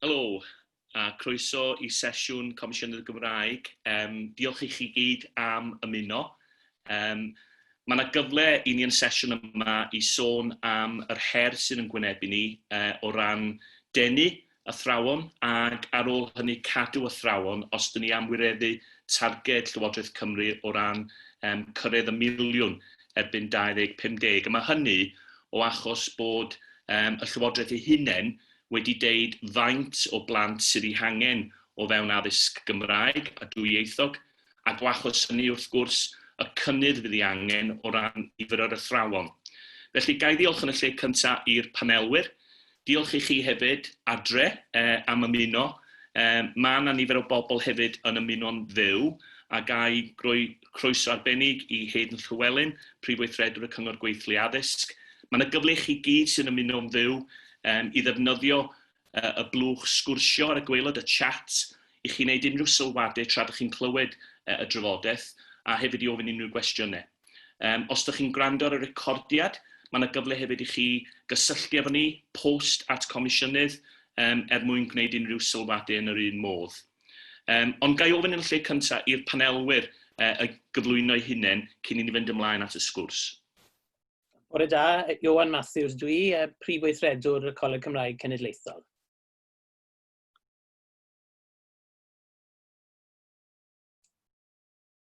Helo, a croeso i sesiwn Comisiynydd y Gymraeg. Yym, diolch i chi gyd am ymuno. Yym, mae yna gyfle i ni yn y sesiwn yma i sôn am yr her sydd yn gwynebu ni uh, o ran denu athrawon ac ar ôl hynny cadw athrawon os dyn ni am wireddu targed Llywodraeth Cymru o ran um, cyrraedd y miliwn erbyn 2050, a mae hynny o achos bod y Llywodraeth ei hunain wedi deud faint o blant sydd eu hangen o fewn addysg Gymraeg a dwyieithog, ac o achos hynny, wrth gwrs, y cynnydd fydd ei angen o ran nifer yr athrawon. Felly, ga i ddiolch yn y lle cyntaf i'r panelwyr, Diolch i chi hefyd, Adre, am ymuno. Mae 'na nifer o bobl hefyd yn ymuno'n fyw, a ga i roi croeso arbennig i Haydn Llewelyn, Prif Weithredwr y Cyngor Gweithlu Addysg. Mae 'na gyfle i chi gyd sy'n ymuno'n fyw i ddefnyddio y blwch sgwrsio ar y gwaelod, y chat, i chi wneud unrhyw sylwadau tra dych chi'n clywed y drafodaeth, a hefyd i ofyn unrhyw gwestiynau. Yym, os dych chi'n gwrando ar y recordiad, mae yna gyfle hefyd i chi gysylltu efo ni, post at Comisiynydd, um, er mwyn gwneud unrhyw sylwadu yn yr un modd. Um, ond ga i ofyn yn y lle cyntaf i'r panelwyr uh, y gyflwyno'i hunain cyn i ni fynd ymlaen at y sgwrs. Bore da, Iwan Matthews dw i, uh, Prif Weithredwr y Coleg Cymraeg Cenedlaethol.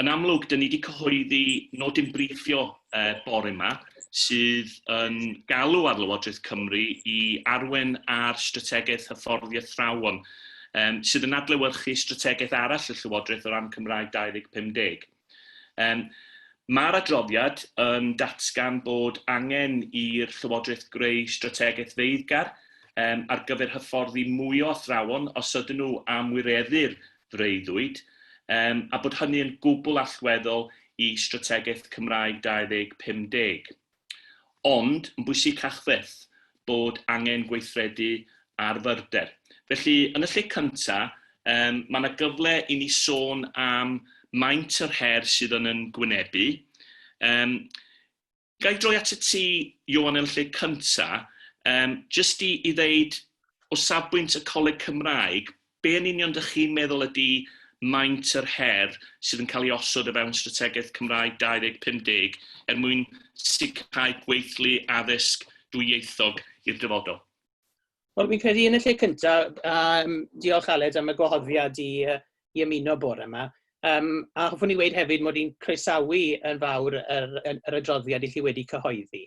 Yn amlwg, dyn ni wedi cyhoeddi nodyn briffio e, bore yma, sydd yn galw ar Lywodraeth Cymru i arwen ar strategaeth hyfforddi athrawon, um, sydd yn adlewyrchu strategaeth arall y Llywodraeth o ran Cymraeg 2050. Um, Mae'r adroddiad yn datgan bod angen i'r Llywodraeth greu strategaeth feiddgar um, ar gyfer hyfforddi mwy o athrawon os ydyn nhw am wireddu'r freuddwyd, yym, a bod hynny yn gwbl allweddol i Strategaeth Cymraeg 2050. Ond, yn bwysicach fyth, bod angen gweithredu ar fyrder. Felly, yn y lle cyntaf, yym, mae yna gyfle i ni sôn am maint yr her sydd yn yn gwynebu, yym, Ga i droi atat ti, Ioan, yn lle cynta, um, jyst i, i ddeud, o safbwynt y Coleg Cymraeg, be yn union dych chi'n meddwl ydy maint yr her sydd yn cael ei osod o fewn strategaeth Cymraeg 2050 er mwyn sicrhau gweithlu addysg dwyieithog i'r dyfodol? Wel, fi'n credu yn y lle cyntaf, um, diolch Aled am y gwahoddiad i, uh, i ymuno bore yma. Um, a hoffwn i wedi hefyd mod i'n croesawu yn fawr yr, yr, yr adroddiad i chi wedi cyhoeddi.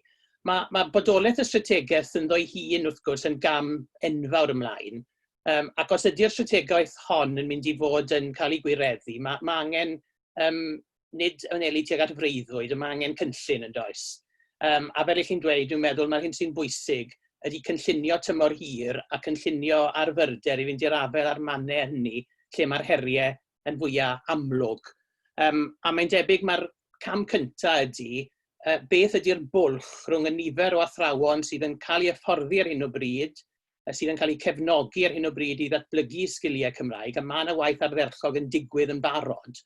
Mae, mae bodolaeth y strategaeth yn ddo'i hun wrth gwrs yn gam enfawr ymlaen. Um, ac os ydy'r strategaeth hon yn mynd i fod yn cael ei gwireddu, mae, mae angen um, nid yn eli tuag at freuddwyd, yma angen cynllun yn does. Um, a fel i chi'n dweud, dwi'n meddwl mae'r hyn sy'n bwysig ydy cynllunio tymor hir a cynllunio ar fyrder i fynd i'r afael â'r mannau hynny lle mae'r heriau yn fwyaf amlwg. Um, a mae'n debyg mae'r cam cyntaf ydy uh, beth ydy'r bwlch rhwng y nifer o athrawon sydd yn cael ei hyfforddi ar hyn o bryd sydd yn cael eu cefnogi ar hyn o bryd i ddatblygu sgiliau Cymraeg, a mae yna waith ardderchog yn digwydd yn barod,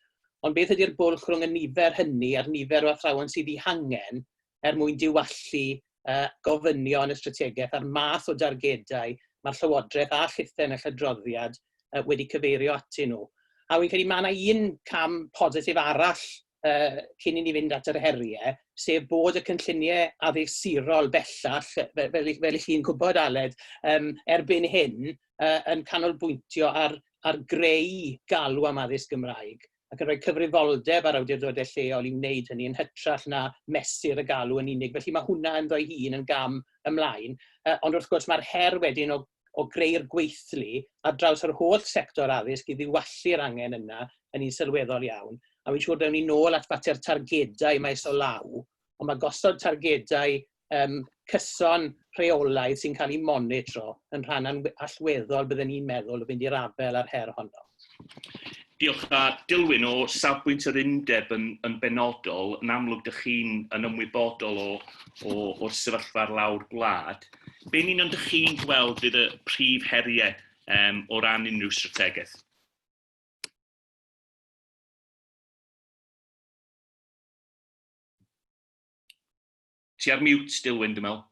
ond beth ydy'r bwlch rhwng y nifer hynny a'r nifer o athrawon sydd eu hangen er mwyn diwallu uh, gofynion y strategaeth a'r math o dargedau mae'r Llywodraeth a Llythen y Llydroddiad uh, wedi cyfeirio atyn nhw. A wy'n credu mae yna un cam positif arall uh, cyn i ni fynd at yr heriau, sef bod y cynlluniau addursurol bellach, fel, fel, fel i chi'n gwybod Aled, um, erbyn hyn uh, yn canolbwyntio ar, ar greu galw am addysg Gymraeg ac yn rhoi cyfrifoldeb ar awdurdodau lleol i wneud hynny yn hytrach na mesur y galw yn unig. Felly mae hwnna yn ddo'i hun yn gam ymlaen. Uh, ond wrth gwrs mae'r her wedyn o o greu'r gweithlu ar draws yr holl sector addysg i ddiwallu'r angen yna yn un sylweddol iawn. A fi'n siŵr dewn ni nôl at fater targedau maes o law, ond mae gosod targedau um, cyson rheolaidd sy'n cael eu monitro yn rhan allweddol bydden ni'n meddwl o fynd i'r afael â'r her honno. Diolch. A Dilwyn, o safbwynt yr undeb yn, yn benodol, yn amlwg dych chi'n yn ymwybodol o, o, o'r sefyllfa ar lawr gwlad. Be'n union dych chi'n gweld fydd y prif heriau um, o ran unrhyw strategaeth? Ti ar mute, Dilwyn, dwi'n meddwl.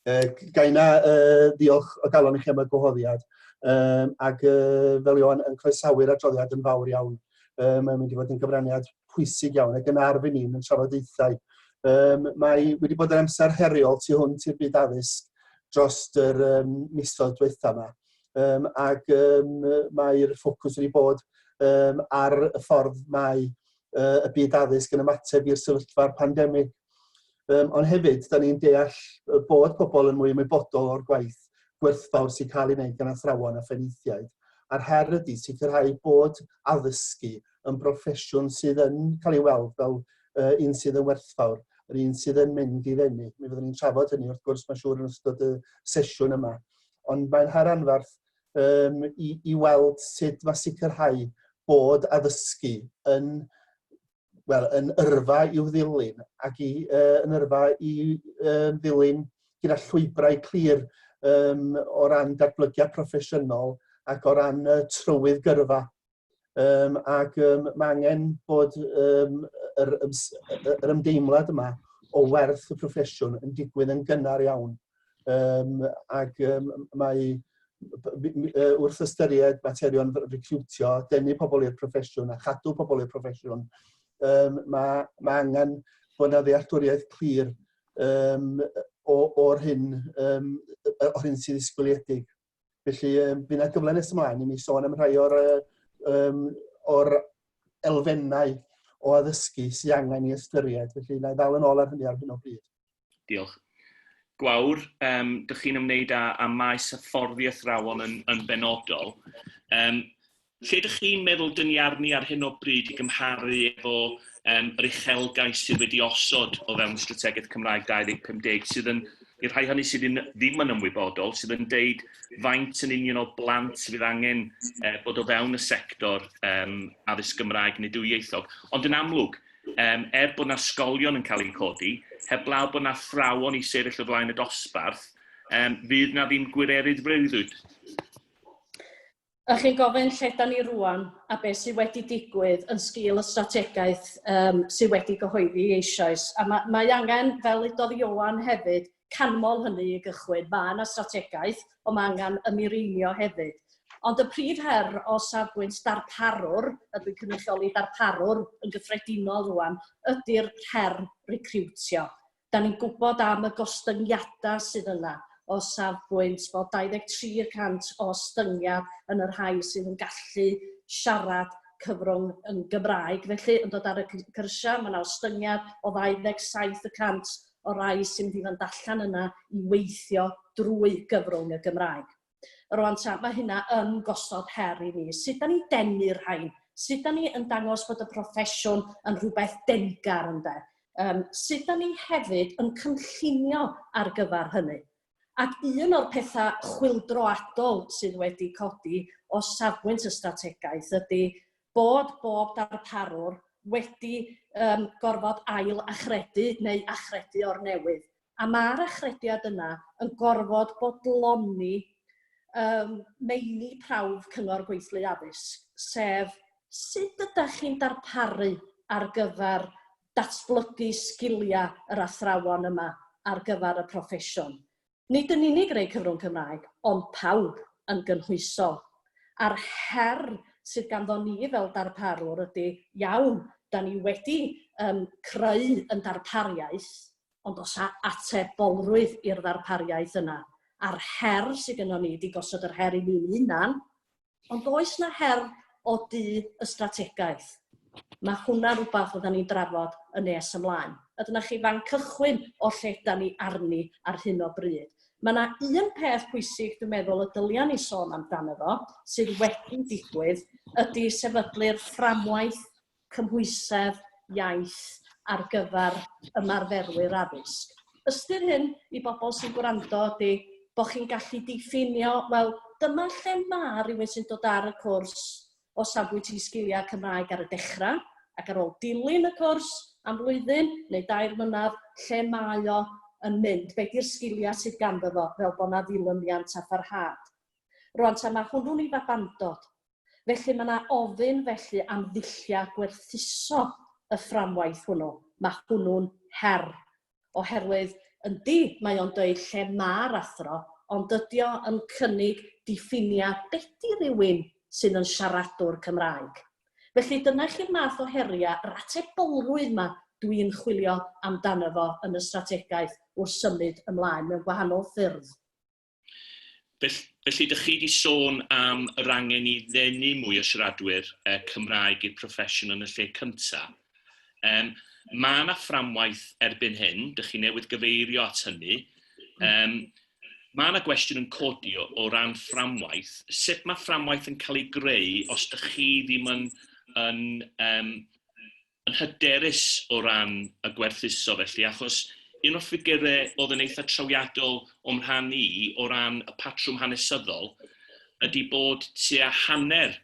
Uh, gai na uh, ddiolch o galon i chi am y gwahoddiad um, ac uh, fel Iwan yn croesawu'r adroddiad yn fawr iawn. Um, mae'n mynd i fod yn gyfraniad pwysig iawn ac yn arf i ni yn trafodaethau. Um, mae wedi bod yn amser heriol tu hwnt i'r byd addysg dros yr um, misoedd diwetha yma. Um, ac um, mae'r ffocws wedi bod um, ar y ffordd mae uh, y byd addysg yn ymateb i'r sefyllfa'r pandemig Um, ond hefyd, da ni'n deall bod pobl yn mwy ymwybodol o'r gwaith gwerthfawr sy'n cael ei wneud gan athrawon a phenaethiaid. A'r her ydy sicrhau bod addysgu yn broffesiwn sydd yn cael ei weld fel uh, un sydd yn werthfawr, yr un sydd yn mynd i ddenu. Mi fyddwn ni'n trafod hynny wrth gwrs mae'n siŵr yn ystod y sesiwn yma. Ond mae'n her anferth um, i, i weld sut mae sicrhau bod addysgu yn wel, yn yrfa i'w ddilyn ac i, uh, yn yrfa i uh, ddilyn gyda llwybrau clir um, o ran datblygiad proffesiynol ac o ran uh, trywydd gyrfa. Um, ac um, mae angen bod um, yr, yr ymdeimlad yma o werth y proffesiwn yn digwydd yn gynnar iawn. Yym ac yym mae wrth ystyried materion recriwtio, denu pobl i'r proffesiwn a chadw pobl i'r proffesiwn, um, mae, ma angen bod yna ddealltwriaeth clir um, o'r hyn, um, o'r hyn sydd ysgoliedig. Felly um, bydd yna gyfle nes ymlaen i ni sôn am rhai o'r, um, or elfennau o addysgu sy'n angen i ystyried. Felly, na i ddal yn ôl ar hynny ar hyn o bryd. Diolch. Gwawr, um, dych chi'n ymwneud â, â maes hyfforddi athrawon yn, yn benodol. Um, Lle ydych chi'n meddwl dyn ni arni ar hyn o bryd i gymharu efo um, yr uchelgais sydd wedi osod o fewn Strategaeth Cymraeg 2050, sydd yn, i'r rhai hynny sydd yn, ddim yn ymwybodol, sydd yn deud faint yn union o blant fydd angen uh, bod o fewn y sector um, addysg Gymraeg neu dwyieithog. Ond yn amlwg, um, er bod yna sgolion yn cael eu codi, heblaw bod yna thrawon i sefyll o flaen y dosbarth, um, fydd yna ddim gwirerydd freuddwyd. Ydych chi'n gofyn lle ydan ni rŵan a beth sydd wedi digwydd yn sgil y strategaeth yym sydd wedi gyhoeddi eisoes. A ma' mae angen, fel ddudodd Ioan hefyd, canmol hynny i gychwyn. Mae yna strategaeth, ond mae angen y mireinio hefyd. Ond y prif her o safbwynt darparwr, a dwi'n cynrychioli darparwr yn gyffredinol rŵan, ydy'r her recriwtio. Dan ni'n gwybod am y gostyngiadau sydd yna o safbwynt bod 23 y cant o ostyngiad yn y rhai sydd yn gallu siarad cyfrwng yn Gymraeg felly yn dod ar y cyrsiau, mae yna ostyngiad o 27 y cant o rai sy'n mynd i fynd allan yna i weithio drwy gyfrwng y Gymraeg. Rwan ta, mae hynna yn gosod her i ni. Sut da ni'n denu'r rhain? Sut da ni yn dangos bod y proffesiwn yn rhywbeth denggar ynde? Um, sut da ni hefyd yn cynllunio ar gyfer hynny? Ac un o'r pethau chwildroadol sydd wedi codi o safbwynt y strategaeth ydy bod bob darparwr wedi um, gorfod ail achredu neu achredu o'r newydd. A ma'r achrediad yna yn gorfod bodloni yym meini prawf Cyngor Gweithlu Addysg, sef sut ydach chi'n darparu ar gyfer datblygu sgiliau yr athrawon yma ar gyfer y proffesiwn. Nid yn unig rei cyfrwng Cymraeg, ond pawb yn gynhwysol. A'r her sydd ganddo ni fel darparwr ydy, iawn, 'da ni wedi yym creu yn darpariaeth, Ond oes 'na atebolrwydd i'r ddarpariaeth yna? A'r her sydd gynnon ni ydi gosod yr her i ni'n hunan, ond oes 'na her o du y strategaeth? Mae hwnna'n rhywbeth fyddan ni'n drafod yn nes ymlaen. A dyna chi fan cychwyn o lle da ni arni ar hyn o bryd. Mae yna un peth pwysig dwi'n meddwl y dylia ni sôn amdano fo sydd wedi digwydd ydy sefydlu'r fframwaith cymhwysedd iaith ar gyfer ymarferwyr addysg. Ystyr hyn i bobl sy'n gwrando ydy bod chi'n gallu diffinio, wel, dyma lle mae rhywun sy'n dod ar y cwrs o safbwynt eu sgiliau Cymraeg ar y dechrau, ac ar ôl dilyn y cwrs am flwyddyn neu dair mlynedd, lle mae o yn mynd, be di'r sgiliau sydd ganddo fo, fel bod 'na ddilyniant a pharhad. Rŵan ta mae hwnnw'n ei fabandod, Felly, mae yna ofyn felly am ddulliau gwerthuso y fframwaith hwnnw. Mae hwnnw'n her, oherwydd yndi, mae o'n dweud lle mae'r athro, ond dydy o yn cynnig diffiniad be di rywun sydd yn siaradwr Cymraeg. Felly, dyna chi'r math o heriau, yr atebolrwydd yma dwi'n chwilio amdano fo yn y strategaeth wrth symud ymlaen mewn gwahanol ffyrdd. Felly, felly dych chi wedi sôn am yr angen i ddenu mwy o siaradwyr uh, Cymraeg i'r proffesiwn yn y lle cyntaf. Um, mae yna fframwaith erbyn hyn, dych chi newydd gyfeirio at hynny. Um, mae yna gwestiwn yn codi o, o ran fframwaith. Sut mae fframwaith yn cael ei greu os dych chi ddim yn, yn um, yn hyderus o ran y gwerthuso felly, achos un o'r ffigyre o'dd yn eitha trawiadol o'm rhan i o ran y patrwm hanesyddol ydi bod tua hanner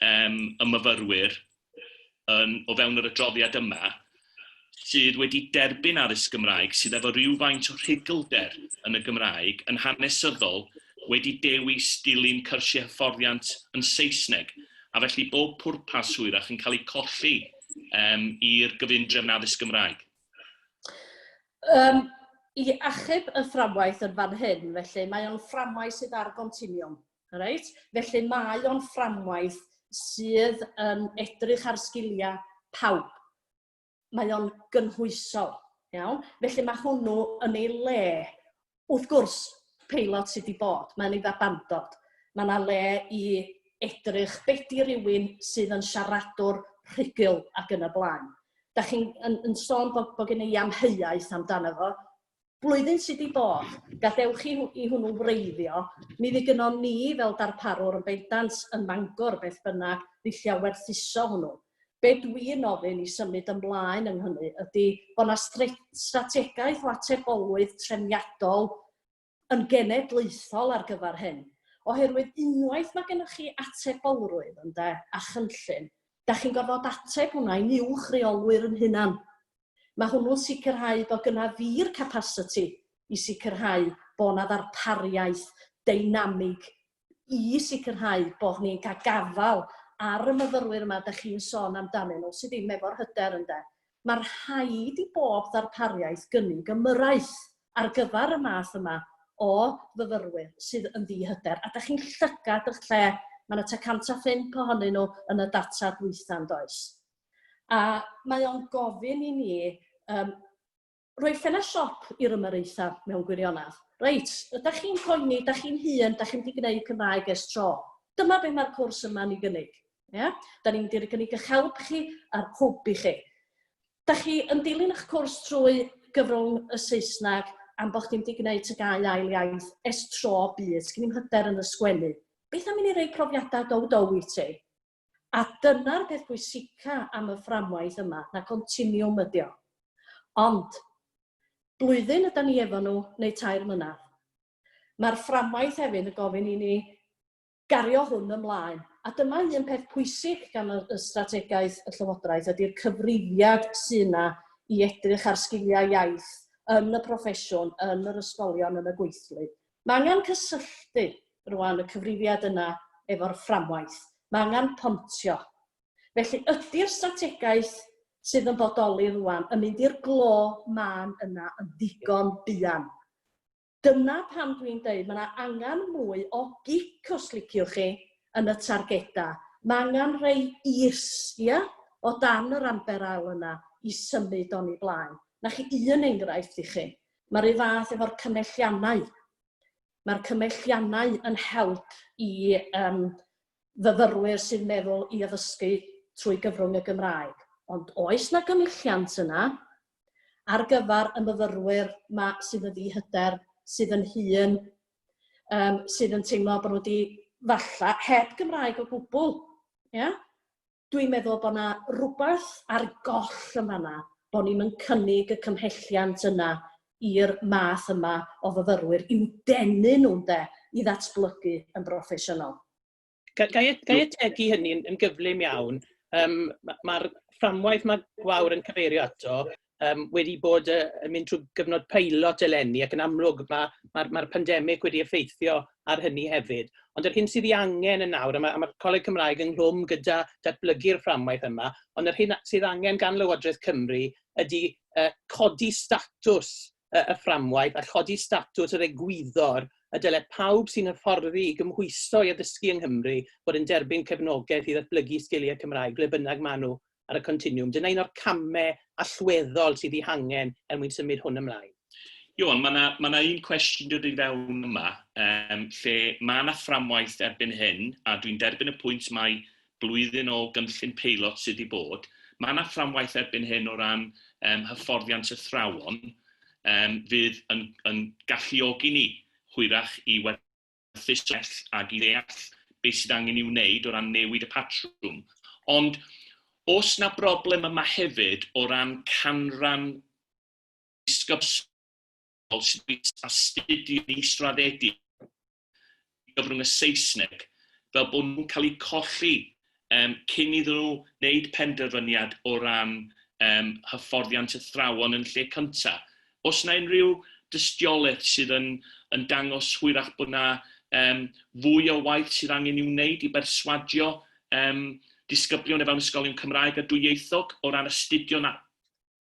yym y myfyrwyr yn o fewn yr adroddiad yma sydd wedi derbyn addysg Gymraeg sydd efo rywfaint o rhuglder yn y Gymraeg yn hanesyddol wedi dewis dilyn cyrsiau hyfforddiant yn Saesneg. a felly bod pwrpas hwyrach yn cael ei colli um, i'r gyfundrefn addysg Gymraeg? Um, I achub y fframwaith yn fan hyn, felly mae o'n fframwaith sydd ar gontiniwm. Right? Felly mae o'n fframwaith sydd yn edrych ar sgiliau pawb. mae o'n gynhwysol, iawn? Felly mae hwnnw yn ei le. Wrth gwrs, peilot sydd wedi bod, mae'n ei ddabandod. Mae yna le i edrych bedi rhywun sydd yn siaradwr rhugl ac yn y blaen. Da chi'n yn, yn sôn bod, bod gen i amheuaeth amdano fo, Blwyddyn sy 'di bod, gadewch chi i hwnnw wreiddio, mi fu gynnon ni fel darparwr yn bendant yn Mangor beth bynnag ddulliau werthuso hwnnw. Be' dwi'n ofyn i symud ymlaen yn hynny ydi bo' 'na stre- strategaeth o atebolrwydd trefniadol yn genedlaethol ar gyfer hyn. Oherwydd unwaith ma' gennych chi atebolrwydd, ynde, a chynllun, 'dach chi'n gorfod ateb hwnna i'n uwch reolwyr 'yn hunan. Mae hwnnw'n sicrhau bod gyna fi'r capasiti i sicrhau bod yna ddarpariaeth deinamig i sicrhau bod ni'n cael gafael ar y myfyrwyr yma dych chi'n sôn amdanyn nhw sydd ddim efo'r hyder ynde. Mae rhaid i bob ddarpariaeth gynnig ymyrraeth ar gyfer y math yma o fyfyrwyr sydd yn ddi-hyder a dych chi'n llygad eich lle, mae yna tua 105 ohonyn nhw yn y data dwytha yn does? A mae o'n gofyn i ni um, rhoi ffenest siop i'r ymyraethau mewn gwirionedd. Reit, ydych chi'n poeni, ydych chi'n hun, ydych chi'n mynd i gwneud Cymraeg es tro. Dyma beth mae'r cwrs yma'n ei gynnig. Yeah? Da ni'n mynd i'r gynnig eich help chi a'r hwb i chi. Da chi yn dilyn eich cwrs trwy gyfrwng y Saesneg am bod chi'n mynd i gwneud tygau ail iaith es tro byd, sgyn i'n hyder yn y sgwennu. Beth am i ni rei profiadau dow dow i ti? A dyna'r peth pwysica am y fframwaith yma, na continiwm ydi o. Ond, blwyddyn ydan ni efo nhw, neu tair mlynedd. Mae'r fframwaith hefyd yn gofyn i ni gario hwn ymlaen. A dyma un peth pwysig gan y y strategaeth y Llywodraeth ydy'r cyfrifiad sy' 'na i edrych ar sgiliau iaith yn y proffesiwn, yn yr ysgolion, yn y gweithlu. Mae angen cysylltu rwan y cyfrifiad yna efo'r fframwaith. Mae angen pontio. Felly, ydi'r strategaeth sydd yn bodoli rwan yn mynd i'r glo mân yna yn ddigon buan? Dyna pam dwi'n deud mae yna angen mwy o gic, os liciwch chi, yn y targedau. Mae angen rhoi is, ia, o dan yr amber ael yna i symud o'n ei blaen. 'Na chi un enghraifft i chi. Mae'r un fath efo'r cymhelliannau. Mae'r cymhelliannau yn help i um, fyfyrwyr sy'n meddwl i addysgu trwy gyfrwng y Gymraeg. Ond oes na gymhelliant yna ar gyfer y myfyrwyr ma sydd yn ddihyder, sydd yn hun, um, sydd yn teimlo bod nhw wedi falla heb Gymraeg o gwbl. Yeah? Dwi'n meddwl bod 'na rwbath ar goll yn fanna, bod ni'm yn cynnig y cymhelliant yna i'r math yma o fyfyrwyr, i'w denu nhw ynde, i ddatblygu yn broffesiynol. Ga, ga, ga i ategu hynny'n yn gyflym iawn? Um, Mae'r fframwaith mae Gwawr yn cyfeirio ato, um, wedi bod uh, yn mynd trwy gyfnod peilot eleni ac yn amlwg mae'r ma, ma, ma pandemig wedi effeithio ar hynny hefyd. Ond yr hyn sydd ei angen yn nawr, a mae'r ma, ma Coleg Cymraeg yng nghlwm gyda datblygu'r fframwaith yma, ond yr hyn sydd angen gan Lywodraeth Cymru ydy uh, codi statws uh, y fframwaith a chodi statws yr egwyddor y dylai pawb sy'n hyfforddi i gymhwyso i addysgu yng Nghymru bod yn derbyn cefnogaeth i ddatblygu sgiliau Cymraeg ble bynnag maen nhw ar y continwwm. Dyna un o'r camau allweddol sydd ei hangen er mwyn symud hwn ymlaen. Iwan, mae yna ma un cwestiwn dod i fewn yma, um, lle mae yna fframwaith erbyn hyn, a dwi'n derbyn y pwynt mae blwyddyn o gynllun peilot sydd wedi bod, mae yna fframwaith erbyn hyn o ran um, hyfforddiant athrawon um, fydd yn, yn galluogi ni hwyrach i werthu datrys well ac i ddeall beth sydd angen ei wneud o ran newid y patrwm. Ond os na broblem yma hefyd o ran canran disgybsol sy'n bwynt astudio yn israddedig gyfrwng y Saesneg fel bod nhw'n cael eu colli yym, cyn iddyn nhw wneud penderfyniad o ran yym, hyfforddiant athrawon yn lle cynta'. Oes yna unrhyw dystiolaeth sydd yn yn dangos hwyrach bod yna yym, fwy o waith sydd angen i'w wneud i berswadio yym, disgyblion o fewn ysgolion Cymraeg a dwyieithog o ran astudio na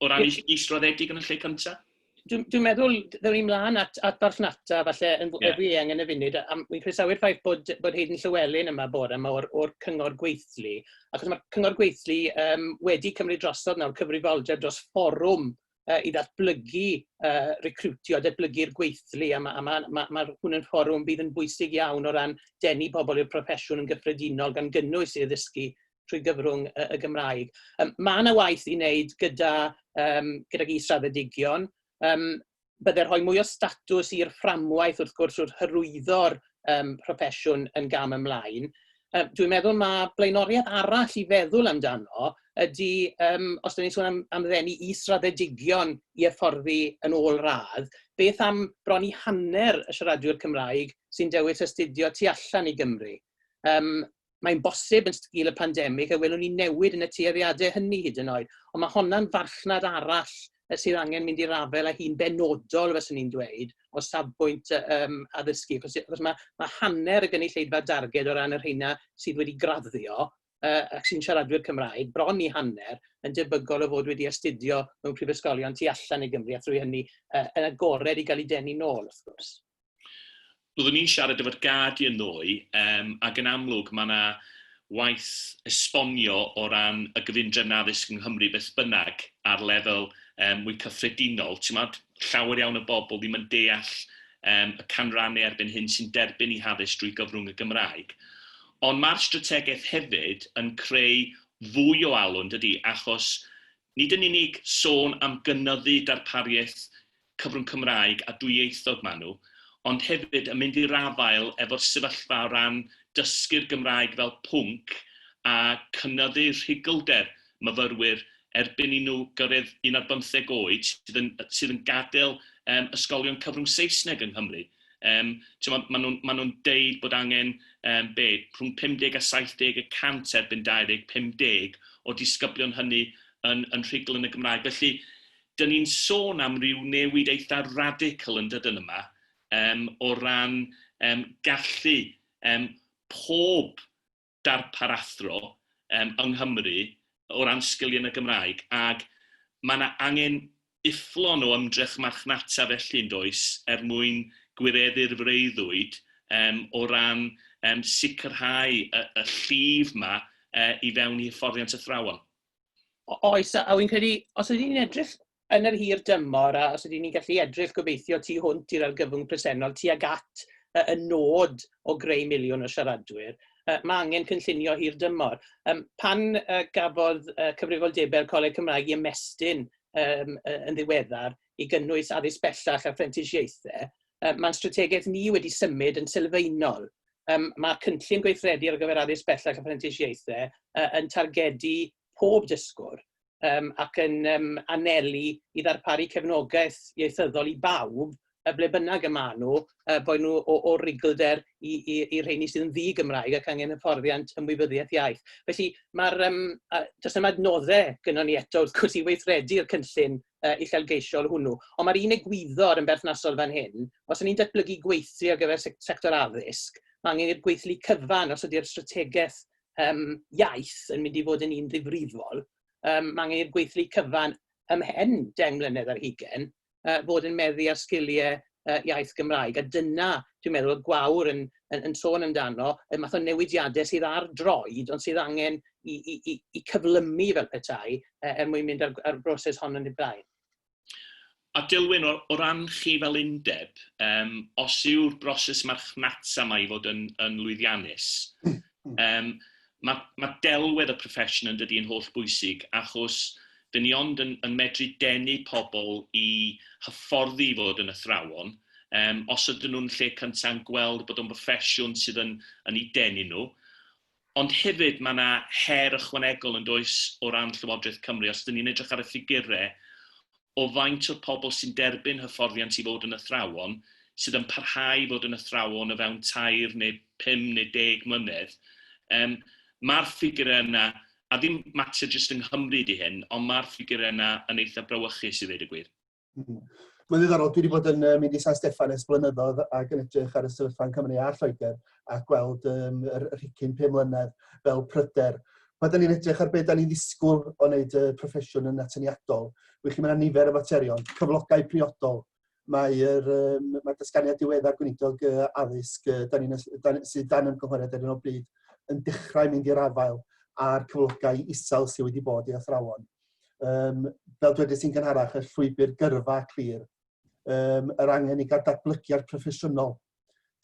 o ran is israddedig yn y lle cyntaf? Dwi'n dwi meddwl, ddewn ni mlaen at, at farchnata, falle yn yeah. fwy eang yn y funud, a mi'n croesawu'r ffaith bod, bod Hayden Llywelyn yma bore yma o'r, or cyngor gweithlu, achos mae'r cyngor gweithlu um, wedi cymryd drosodd nawr cyfrifoldeb dros fforwm uh, i ddatblygu uh, recrwtio, datblygu'r gweithlu, a mae ma, ma, ma hwn yn fforwm bydd yn bwysig iawn o ran denu pobl i'r proffesiwn yn gyffredinol gan gynnwys i addysgu trwy gyfrwng y, y Gymraeg. Um, mae yna waith i wneud gyda, um, gyda is-raddedigion. Um, bydde rhoi mwy o statws i'r fframwaith wrth gwrs wrth hyrwyddo'r um, proffesiwn yn gam ymlaen. Um, dwi'n meddwl mae blaenoriaeth arall i feddwl amdano ydy, um, os da ni'n sôn am, am ddenu is-raddedigion i efforddi yn ôl radd, beth am bron i hanner y siaradwyr Cymraeg sy'n dewis astudio tu allan i Gymru? Um, Mae'n bosib yn sgil y pandemig y welwn ni newid yn y tueddiadau hynny hyd yn oed, ond mae honna'n farchnad arall yy sydd angen mynd i'r afael â hi'n benodol, fyswn i'n dweud, o safbwynt yy yym addysgu, achos achos mae ma' hanner y gynulleidfa darged o ran y rheina sydd wedi graddio yy ac sy'n siaradwyr Cymraeg, bron i hanner, yn debygol o fod wedi astudio mewn prifysgolion tu allan i Gymru, a thrwy hynny yy yn agored i gael eu denu nôl, wrth gwrs. Byddwn i'n siarad efo'r Guardian ddoe yym ac yn amlwg mae 'na waith esbonio o ran y gyfundrefn addysg yng Nghymru beth bynnag ar lefel yym mwy cyffredinol, timod, llawer iawn o bobl ddim yn deall yym y canrannau erbyn hyn sy'n derbyn eu haddysg drwy gyfrwng y Gymraeg. Ond mae'r strategaeth hefyd yn creu fwy o alw, yn dydi, achos Nid yn unig sôn am gynyddu darpariaeth cyfrwng Cymraeg a dwyieithog maen nhw, ond hefyd yn mynd i'r afael efo'r sefyllfa o ran dysgu'r Gymraeg fel pwnc a chynyddu rhugylder myfyrwyr erbyn i nhw gyrraedd un ar bymtheg oed sydd yn sydd yn gadael yym ysgolion cyfrwng Saesneg yng Nghymru. Um, Mae ma nhw'n ma nhw deud bod angen um, be, rhwng 50 a 70 y cant erbyn 2050 o disgyblion hynny yn, yn rhugl yn y Gymraeg. Felly, dyn ni'n sôn am ryw newid eitha radical yn dydyn yma um, o ran um, gallu um, pob darpar athro yym yng Nghymru o ran sgiliau yn y Gymraeg ac mae 'na angen ufflon o ymdrech marchnata felly yn does er mwyn gwireddu'r freuddwyd yym o ran yym sicrhau y y llif 'ma yy i fewn i hyfforddiant athrawon. O- oes a a wi'n credu os ydyn ni'n edrych yn yr hir dymor, a os ydyn ni'n gallu edrych gobeithio tu hwnt i'r argyfwng presennol tuag at y nod o greu miliwn o siaradwyr, mae angen cynllunio hir dymor. Pan gafodd cyfrifoldebau'r Coleg Cymraeg i ymestyn yn ddiweddar i gynnwys addysg bellach a phrentisiaethau, mae'n strategaeth ni wedi symud yn sylfaenol. Mae cynllun gweithredu ar gyfer addysg bellach a phrentisiaethau yn targedu pob dysgwr, um, ac yn um, anelu i ddarparu cefnogaeth ieithyddol i bawb, y ble bynnag y maen nhw, uh, boed nhw o, o rigolder i, i, i rheini sydd yn ddi-Gymraeg ac angen hyfforddiant ymwybyddiaeth iaith. Felly, mae'r, um, uh, does yma adnoddau gyda ni eto, wrth gwrs, i weithredu'r cynllun uh, uchelgeisiol hwnnw. Ond mae'r un egwyddor yn berthnasol fan hyn, os yni'n datblygu gweithlu ar gyfer sector addysg, mae angen i'r gweithlu cyfan os ydy'r strategaeth um, iaith yn mynd i fod yn un ddifrifol, um, mae angen i'r gweithlu cyfan ymhen 10 mlynedd ar hugen uh, fod yn meddu ar sgiliau uh, iaith Gymraeg. A dyna, dwi'n meddwl, y gwawr yn, yn, yn sôn amdano, y math o newidiadau sydd ar droed, ond sydd angen i, i, i, i cyflymu fel petai, uh, er mwyn mynd ar, ar broses hon yn ei blaen. A Dilwyn, o ran chi fel undeb, yym, os yw'r broses marchnata 'ma i fod yn, yn lwyddiannus, yym, mae, mae delwedd y profession yn dydi yn holl bwysig, achos dyn ni ond yn, yn medru denu pobl i hyfforddi i fod yn athrawon, yym, os ydyn nhw'n lle cynta yn gweld bod o'n broffesiwn sydd yn, yn eu denu nhw, Ond hefyd mae 'na her ychwanegol yn does o ran Llywodraeth Cymru, os ydyn ni'n edrych ar y ffigurau o faint o'r pobl sy'n derbyn hyfforddiant i fod yn athrawon, sydd yn parhau i fod yn athrawon o fewn tair neu pum neu deg mlynedd, yym ma'r ffigurau yna, a ddim mater jyst yng Nghymru ydy hyn, ond ma'r ffigurau yna yn eitha' brawychus i ddeud y gwir. Hmm. Mae'n ddiddorol, dwi wedi bod yn um, mynd i San Steffan ers blynyddoedd ac yn edrych ar y sefyllfa yn Cymru a Lloegr a gweld um, yr rhicyn 5 mlynedd fel pryder. Mae dyn ni'n edrych ar beth da ni'n ddisgwyl o wneud y proffesiwn yn atyniadol. Wych chi, mae yna nifer o faterion, cyflogau priodol, mae'r um, mae dysganiad diweddar gweinidog uh, addysg uh, da ni'n, da, sydd dan ymgynghoriad ar un o bryd yn dechrau mynd i'r afael a'r cyflogau isel sydd wedi bod i athrawon. Um, fel dwedais i'n gynharach, y llwybr gyrfa clir, um, yr angen i gael datblygiad proffesiynol,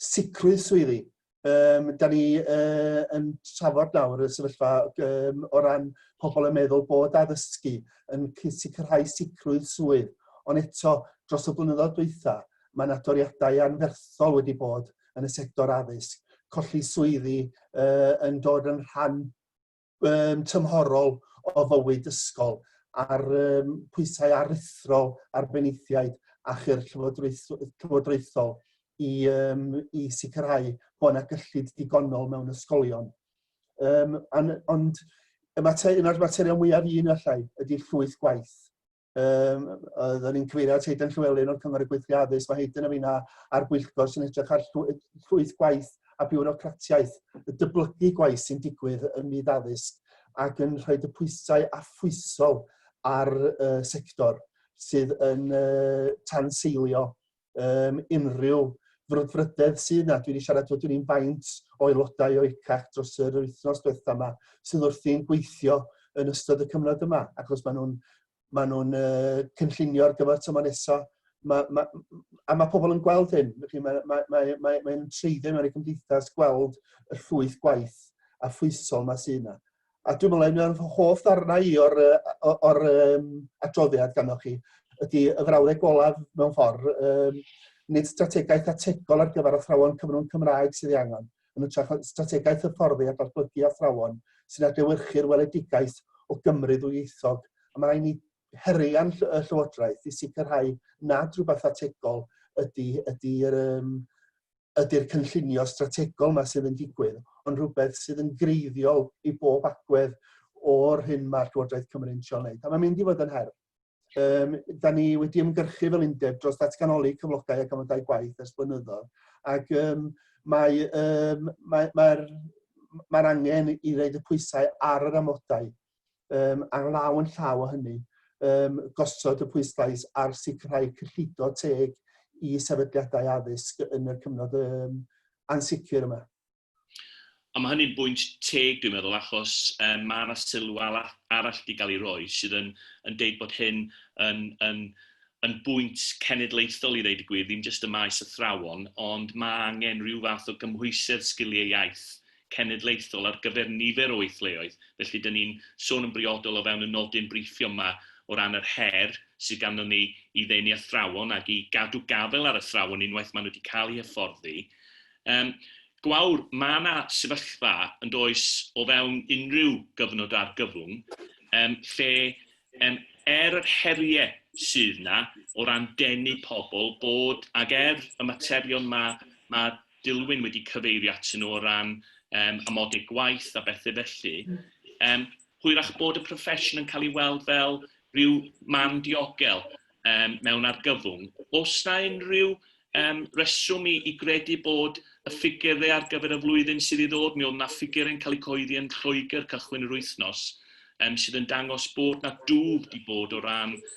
sicrwydd swyddi. Um, da ni uh, yn trafod nawr y sefyllfa um, o ran pobl yn meddwl bod addysgu yn sicrhau sicrwydd swydd, ond eto dros y blynyddoedd dwytha, mae yna doriadau anferthol wedi bod yn y sector addysg, colli swyddi uh, yn dod yn rhan um, tymhorol o fywyd ysgol a'r um, pwysau aruthrol ar benaethiaid a chyr llywodraethol i, um, i sicrhau bod yna gyllid digonol mewn ysgolion. Um, an, ond y mater, un o'r materion mwyaf un allai ydy llwyth gwaith. um, oedden ni'n cyfeirio at Hayden Llywelyn o'r Cyngor y Gweithlu Addysg, mae Hayden yn fina a'r gweithgor sy'n edrych ar llwyth gwaith a biwrocratiaeth, y dyblygu gwaith sy'n digwydd ym myd addysg ac yn rhoi y pwysau affwysol ar uh, sector sydd yn uh, tanseilio um, unrhyw frwdfrydedd sydd na. Dwi wedi siarad fod dwi'n faint o aelodau o ECAC dros yr wythnos diwetha yma sydd wrthi'n gweithio yn ystod y cyfnod yma, ac os maen nhw'n ma nhw uh, cynllunio ar gyfer tymor nesaf, ma, ma, a mae pobl yn gweld hyn, mae'n mae, mae, mae, mae, mae treiddio mewn i gymdeithas gweld y llwyth gwaith a phwysol mae sydd yna. A dwi'n meddwl un o'r hoff ddarnau i o'r, uh, o'r um, adroddiad ganddoch chi ydy y frawddeg golaf mewn ffordd, um, nid strategaeth ategol ar gyfer athrawon cyfrwng Cymraeg sydd ei angen, yn ytrach strategaeth hyfforddi a datblygu athrawon sy'n adlewyrchu'r weledigaeth o Gymru ddwyieithog. A mae'n rhaid ni herian y Llywodraeth i sicrhau nad rhywbeth ategol ydy, ydy um, ydy'r cynllunio strategol yma sydd yn digwydd, ond rhywbeth sydd yn greiddiol i bob agwedd o'r hyn mae'r Llywodraeth Cymru'n trio wneud. A mae'n mynd i fod yn her. Um, da ni wedi ymgyrchu fel undeb dros ddatganoli cyflogau ac amodau gwaith ers blynyddoedd. Ac um, mae'r um, mae, mae, mae angen i wneud y pwysau ar yr amodau um, ar law yn llaw o hynny, um, gosod y pwyslais ar sicrhau cyllido teg i sefydliadau addysg yn y cyfnod um, ansicr yma. A mae hynny'n bwynt teg, dwi'n meddwl, achos um, mae yna sylw arall wedi cael ei roi sydd yn, yn deud bod hyn yn, yn, yn bwynt cenedlaethol i ddeud y cenedlaethol ar gyfer nifer o weithleoedd, felly dan ni'n sôn yn briodol o fewn y nodyn briffio yma o ran yr her sydd ganddo ni i ddenu athrawon ac i gadw gafael ar athrawon unwaith maen nhw wedi cael eu hyfforddi. Um, gwawr, mae yna sefyllfa yn does o fewn unrhyw gyfnod argyfwng um, lle um, er yr heriau sydd yna o ran denu pobl bod ag er y materion mae ma Dylwyn wedi cyfeirio atyn nhw o ran yym amodau gwaith a bethe felly. Yym hwyrach bod y proffesiwn yn cael ei weld fel rhyw man diogel yym mewn argyfwng. Oes 'na unrhyw yym reswm i i gredu bod y ffigyre ar gyfer y flwyddyn sydd i ddod, mi oedd 'na ffigyre yn cael eu cyhoeddi yn Lloegr cychwyn yr wythnos yym sydd yn dangos bod 'na dwf 'di bod o ran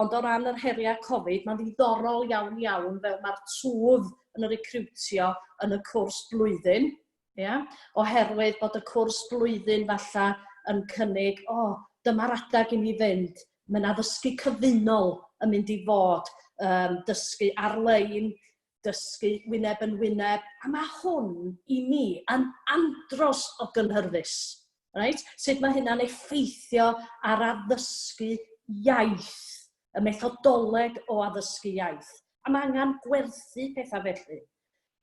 Ond o ran yr heriau Covid, mae'n ddiddorol iawn iawn fel mae'r twf yn y recriwtio yn y cwrs blwyddyn, ia, oherwydd bod y cwrs blwyddyn falla yn cynnig, o, dyma'r adeg i ni fynd, mae yna ddysgu cyfunol yn mynd i fod, um, dysgu ar-lein, dysgu wyneb yn wyneb, a ma' hwn i mi yn andros o gynhyrfus, reit? Sut mae hynna'n effeithio ar addysgu iaith, y methodoleg o addysgu iaith. A mae angen gwerthu pethau felly.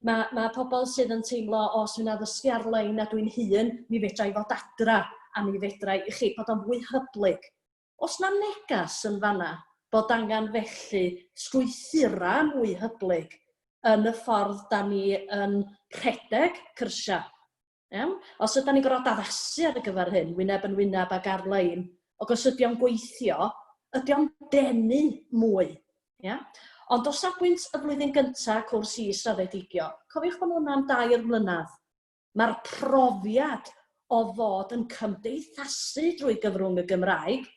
Mae, mae pobl sydd yn teimlo, o, os dwi'n addysgu ar-lein a dwi'n hun, mi fedra i fod adra, a mi fedra i, chi, bod o'n fwy hyblyg. Oes 'na neges yn fan'na bod angen felly strwythura' mwy hyblyg yn y ffordd 'dan ni yn rhedeg cyrsiau? Iawn? Os ydan ni'n gorfod addasu ar gyfer hyn, wyneb yn wyneb ac ar-lein, ac os ydi o'n gweithio, ydi o'n denu mwy? Ia? Ond o safbwynt y flwyddyn gynta' cwrs is-raddedigion, cofiwch bod hwnna'n dair mlynadd, Mae'r profiad o fod yn cymdeithasu drwy gyfrwng y Gymraeg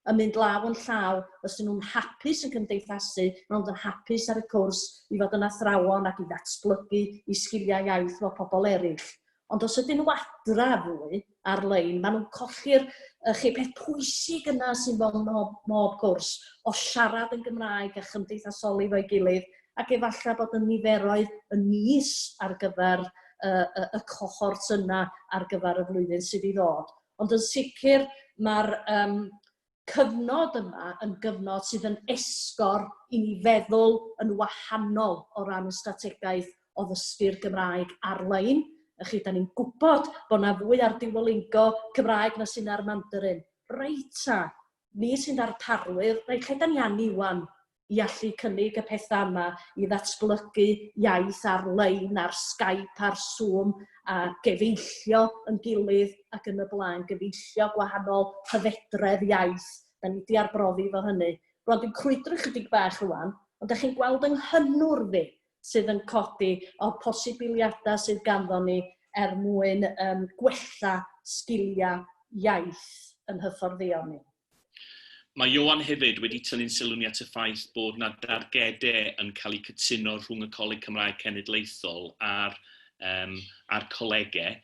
yn mynd law yn llaw, os ydyn nhw'n hapus yn cymdeithasu, maen nhw'n dod hapus ar y cwrs i fod yn athrawon ac i ddatblygu eu sgiliau iaith fel pobl eraill. Ond os ydyn nhw adra fwy ar-lein, maen nhw'n colli'r y chi peth pwysig yna sy'n fel mob, mob cwrs, o siarad yn Gymraeg a chymdeithasoli fo'i gilydd ac efallai bod y niferoedd yn is ar gyfer y, y, y cohort yna ar gyfer y flwyddyn sydd i ddod. Ond yn sicr mae'r um, cyfnod yma yn gyfnod sydd yn esgor i ni feddwl yn wahanol o ran y strategaeth o ddysgu'r Gymraeg ar-lein. Ych chi, da ni'n gwybod bod yna fwy ar diwolingo Cymraeg na sy'n ar Mandarin. Reita, ni sy'n ddarparwyr, reit, lle da ni anni wan? i allu cynnig y pethau yma i ddatblygu iaith ar-lein, ar Skype, ar Zoom, a gefeillio yn gilydd ac yn y blaen, gefeillio gwahanol hyfedredd iaith. Da ni wedi arbrofi efo hynny. Rwan, dwi'n crwydro chydig bach rwan, ond da chi'n gweld yng nghynnwrf i sydd yn codi o'r posibiliadau sydd ganddo ni er mwyn um, gwella sgiliau iaith yn hyfforddeon ni. Mae Ioan hefyd wedi tynnu'n sylwn i at y ffaith bod 'na dargedau yn cael eu cytuno rhwng y Coleg Cymraeg Cenedlaethol a'r yym a'r colegau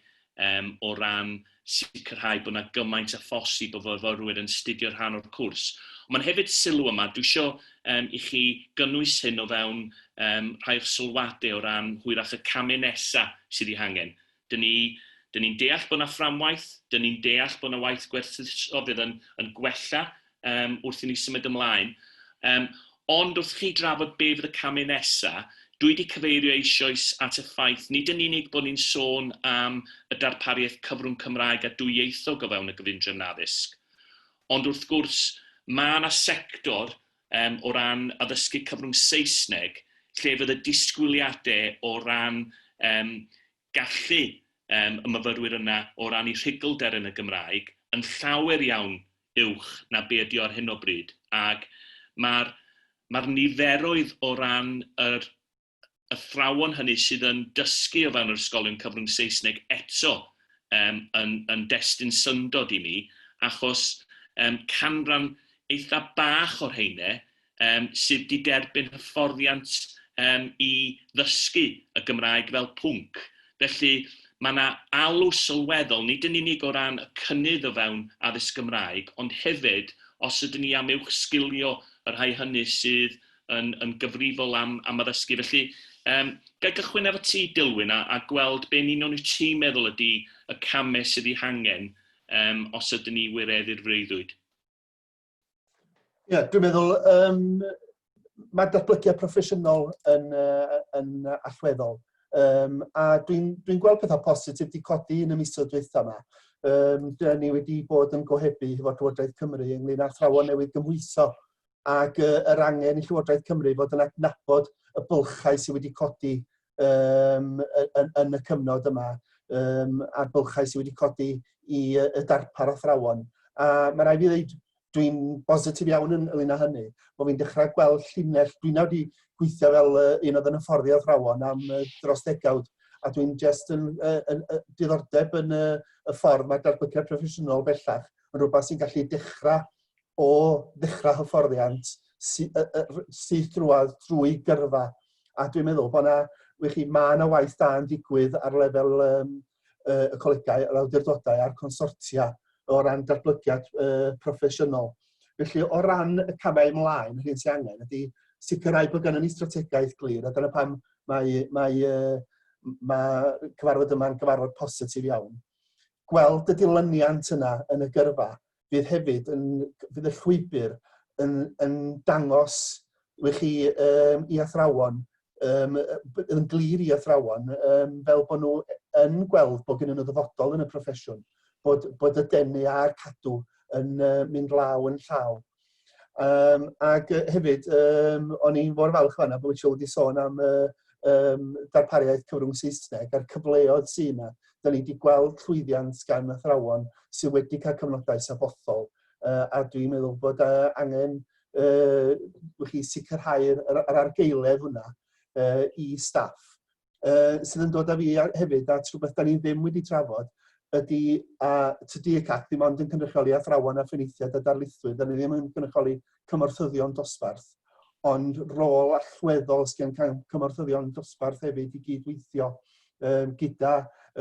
yym o ran sicrhau bod 'na gymaint â phosib o fyfyrwyr yn 'studio rhan o'r cwrs. Ond mae'n hefyd sylw yma, dwi isio yym i chi gynnwys hyn o fewn yym rhai o'ch sylwadau o ran hwyrach y camau nesaf sydd eu hangen. Dyn ni, dyn ni'n deall bod yna fframwaith, dyn ni'n deall bod yna waith gwerthuso fydd yn, yn gwella um, wrth i ni symud ymlaen. Um, ond wrth chi drafod be fydd y camau nesaf, dwi wedi cyfeirio eisoes at y ffaith nid yn unig bod ni'n sôn am y darpariaeth cyfrwng Cymraeg a dwyieithog o fewn y gyfundrefn addysg, ond wrth gwrs mae yna sector yym o ran addysgu cyfrwng Saesneg, lle fydd y disgwyliadau o ran yym gallu yym y myfyrwyr yna o ran eu rhuglder yn y Gymraeg yn llawer iawn uwch na be ydy o ar hyn o bryd, ac mae'r mae'r niferoedd o ran yr athrawon hynny sydd yn dysgu o fewn yr ysgolion cyfrwng Saesneg eto um, yn, yn destun syndod i mi, achos um, canran eitha bach o'r heine um, sydd wedi derbyn hyfforddiant um, i ddysgu y Gymraeg fel pwnc. Felly mae yna alw sylweddol, nid yn unig o ran y cynnydd o fewn addysg Gymraeg, ond hefyd os ydyn ni am uwch sgilio y rhai hynny sydd yn, yn gyfrifol am, am addysgu. Felly, um, gael gychwyn efo ti, Dilwyn, a, a gweld be'n union wyt ti'n meddwl ydy y camau sydd ei hangen um, os ydyn ni wireddu'r freuddwyd. Ie, yeah, dwi'n meddwl, um, mae'r datblygiad proffesiynol yn, uh, yn allweddol. Um, a dwi'n dwi, gweld pethau positif wedi codi yn y misoedd dweitha yma. Um, Dyna ni wedi bod yn gohebu hefo'r Llywodraeth Cymru ynglyn â thrawon newydd gymhwyso ac uh, yr angen i Llywodraeth Cymru fod yn adnabod y bylchau sydd wedi codi um, yn, yn y cyfnod yma um, a'r bylchau sydd wedi codi i uh, y darpar athrawon. A mae rai fi ddeud, dwi'n bositif iawn yn ynglyn â hynny, bod fi'n dechrau gweld llinell, dwi'n nawr wedi gweithio fel uh, un oedd yn hyfforddi athrawon am uh, dros degawd, a dwi'n just yn, uh, yn, uh, diddordeb yn uh, y ffordd mae darbyciad proffesiynol bellach yn rhywbeth sy'n gallu dechrau o ddechrau hyfforddiant sy, y, y, syth drwad drwy gyrfa. A dwi'n meddwl bod yna, wych chi, mae yna waith da yn digwydd ar lefel um, y colegau, yr awdurdodau a'r consortia o ran datblygiad uh, proffesiynol. Felly, o ran y camau ymlaen, yr hyn sy'n angen ydy sicrhau bod gennym ni strategaeth glir, a dyna pam mae, mae, uh, mae cyfarfod yma'n gyfarfod positif iawn. Gweld y dilyniant yna yn y gyrfa, fydd hefyd yn fydd y llwybr yn yn dangos i chi um, i athrawon um, yn glir i athrawon um, fel bod nhw yn gweld bod gen nhw ddyfodol yn y proffesiwn, bod, bod y denu a'r cadw yn uh, mynd law yn llaw. Um, ac uh, hefyd, um, o'n i'n fawr falch fanna bod Michelle wedi sôn am uh, um, darpariaeth cyfrwng Saesneg a'r cyfleodd sy'n yna. Da ni wedi gweld llwyddiant gan athrawon sydd wedi cael cyfnodau safothol uh, a dwi'n meddwl bod uh, angen uh, chi sicrhau'r yr, yr argeuledd hwnna uh, i staff uh, sydd yn dod â fi hefyd at rhywbeth da ni ddim wedi trafod ydy a tydi y CAC ddim ond yn cynrychioli athrawon a phenaethiaid a darlithwyr, da ni ddim yn cynrychioli cymorthyddion dosbarth, ond rôl allweddol sy'n cael cymorthyddion dosbarth hefyd i gydweithio um, gyda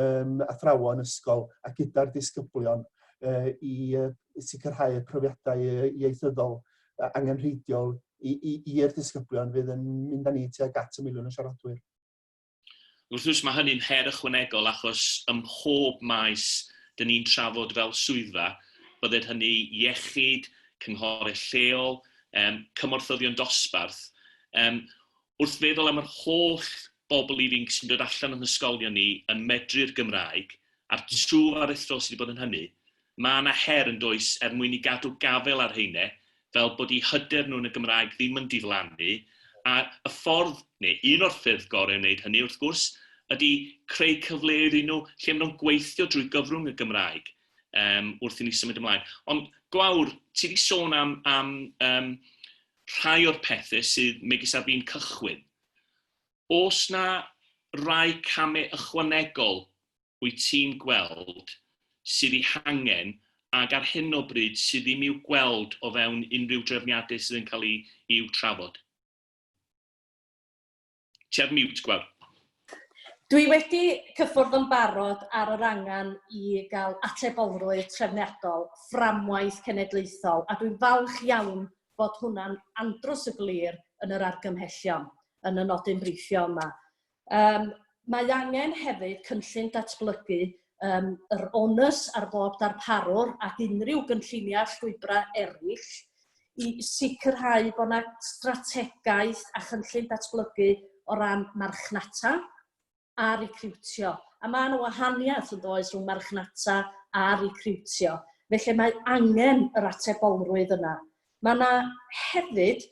um, athrawon ysgol a gyda'r disgyblion uh, i uh, sicrhau y profiadau ieithyddol angenrheidiol i'r disgyblion fydd yn mynd â ni tuag at y miliwn o siaradwyr. Wrth gwrs mae hynny'n her ychwanegol achos ym mhob maes dyn ni'n trafod fel swyddfa, bydded hynny iechyd, cynghorau lleol, um, cymorthyddion dosbarth. Um, wrth feddwl am yr holl bobl ifanc sy'n dod allan o'n hysgolion ni yn medru'r Gymraeg, a'r twf aruthrol sydd wedi bod yn hynny, Mae yna her yn does er mwyn i gadw gafael ar rheine fel bod i hyder nhw yn y Gymraeg ddim yn diflannu a y ffordd neu un o'r ffyrdd gore o wneud hynny wrth gwrs ydy creu cyfleoedd i nhw lle mae nhw'n gweithio drwy gyfrwng y Gymraeg yym wrth i ni symud ymlaen. Ond Gwawr, ti 'di sôn am am yym rhai o'r pethe sydd megis ar fin cychwyn. O's 'na rai came ychwanegol wyt ti'n gweld sydd ei hangen ac ar hyn o bryd sydd ddim i'w gweld o fewn unrhyw drefniadau sydd yn cael eu i'w trafod? Ti ar mute, Gwawr. Dwi wedi cyffwrdd yn barod ar yr angen i gael atebolrwydd trefniadol, fframwaith cenedlaethol, a dwi'n falch iawn bod hwnna'n andros o glir yn yr argymhellion yn y nodyn briffio yma. Yym mae angen hefyd cynllun datblygu yym yr onus ar bob darparwr ac unrhyw gynlluniau a llwybrau eraill i sicrhau bod yna strategaeth a chynllun datblygu o ran marchnata a recriwtio. A mae yna wahaniaeth yn does rhwng marchnata a recriwtio. Felly mae angen yr atebolrwydd yna. Mae yna hefyd,